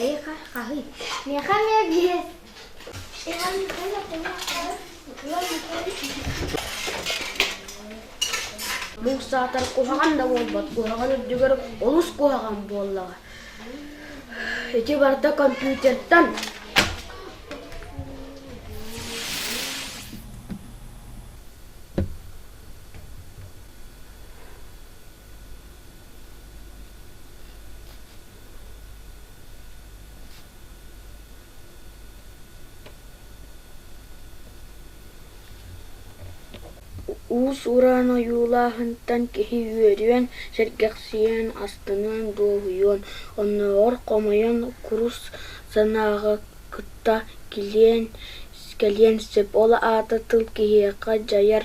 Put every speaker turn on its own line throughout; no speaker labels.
Эйиэхэ хаһый? Миэхэ эмиэ диэс. Иван Михайлов уҥуохтаһар, Иван Михайлович Муус саатар куһаҕан да буолбат куһаҕан үрдүгэр олус куһаҕан буоллаҕа. Ити барда компьютертан Уус-уран ойуулааһынтан киһи үөрүөн, сэргэхсийэн, астыныан, дуоһуйуон, оннооҕор хомойон курус санааҕа кытта килиэн, кэлиэн сөп. Ол аата тыл киһиэхэ дьайар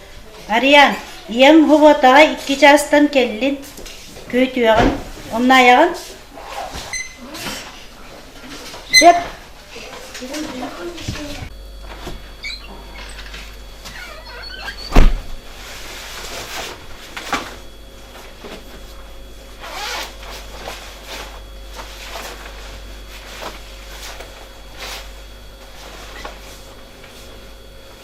Арыйаан, ийэм Вовотаҕа икки чаастан кэллин, күөтүөҕүн, умнаайаҕын? Сөп.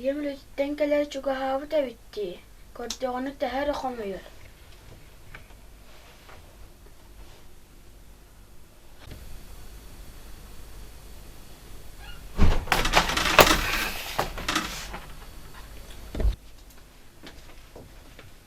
ийэм үлэтиттэн кэлэр чугаһаабыт эбит дии көрдөҕүнэ тэһэ эрэ хомойор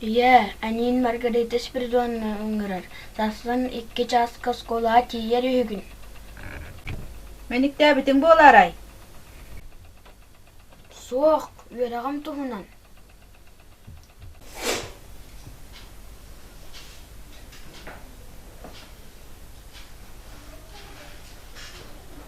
Ийээ, эниин Маргарита Спиридоновна ыҥырар, сарсын икки чааска оскуолаҕа тиийэр үһүгүн. Мэниктээбитиҥ буолаарай? Суох, үөрэҕим туһунан.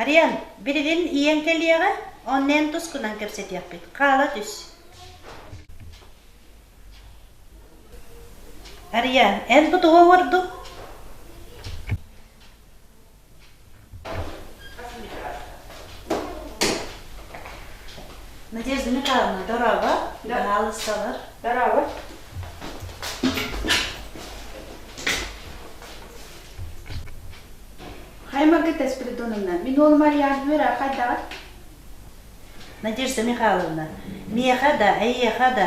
Ариан, билигин ийэҥ кэлиэҕэ, онно эн тус гынан кэпсэтиэхпит, хаала түс. Ариан, эн бу тугу оҥордуҥ? Надежда Михайловна, дорого, пожалуйста. Дорого. Хаймарга Таспиридоновна, мин уолум Ариан үөрэ хайдаҕыт? Надежда Михайловна, миэхэ да, эйиэхэ да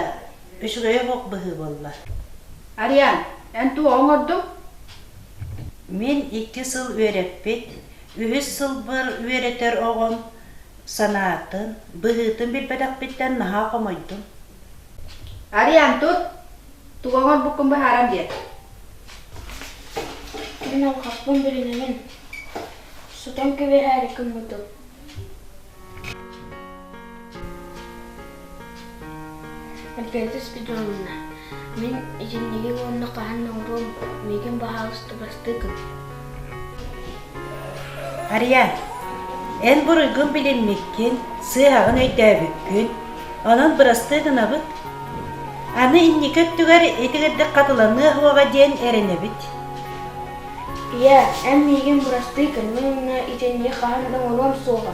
үчүгэйэх ох быһыы буолла. Ариан, эн туох оҥордуҥ? Мин икки сыл үөрэппит, үһүс сылбар үөрэтэр оҕом санаатын, быһыытын билбэтэхпиттэн наһаа хомойдум. Ариан, тут! Тугоҕун буккун быһааран биэр. Мин алҕаппын билинэҕин. Сутан кэбиһээри гыммытым. Эмпиэтис бидонна. Мин итинниги уонна хаһан оҥоруом миигин баһаалыстыбастыыкын. Ария, эн буруйгун билиммиккин, сыыһаҕын өйдөөбүккүн, онон бырастыы гынабыт. Аны инники өттүгэр ити кырдык хатыланыа суоҕа диэн эрэнэбит. Ийээ, эн миигин бырастыы гынна уонна итинник хаһан да уҥуруом суоҕа